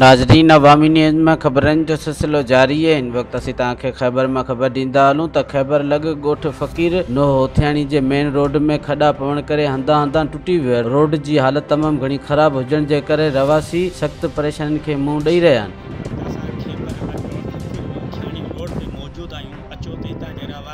ناظرين عوامي نيوز ۾ خبرن جو سلسلو جاري آهي هن وقت اسين توهان کي خيبر مان خبر ڏيندا هلون ته خيبر لڳ ڳوٺ فقير نوح هوٿياڻي جي مين روڊ ۾ کڏا پوڻ ڪري هنڌان هنڌان ٽٽي ويو آهي روڊ جي حالت تمام گهڻي خراب هجڻ جي ڪري رهواسي سخت پريشانين کي منهن ڏئي رهيا آهن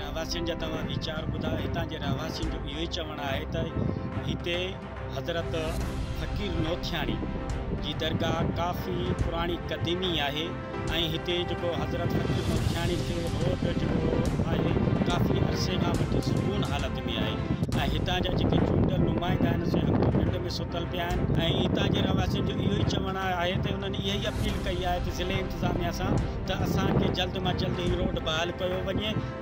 رهواسين جا توهان ويچار ٻڌا هتان جي رهواسين جو اهو ئي چوڻ آهي ته هتي حضرت فقير نوٿياڻي جي درگاهه ڪافي پراڻي قديمي آهي ۽ هتي جيڪو حضرت حڪيم الجاڻي تي روڊ جيڪو آهي ڪافي عرصي کان وٺي سڪون حالت ۾ آهي ۽ هتان جا جيڪي چونڊيل نمائندا آهن سي هڪ ته ننڊ ۾ ستل پيا آهن ۽ هتان جي رهواسين جو اهو ئي چوڻ آهي ته انهن اها ئي اپيل ڪئي آهي ته ضلعي انتظاميا سان ته اسان کي جلد مان جلد هي روڊ بحال ڪيو وڃي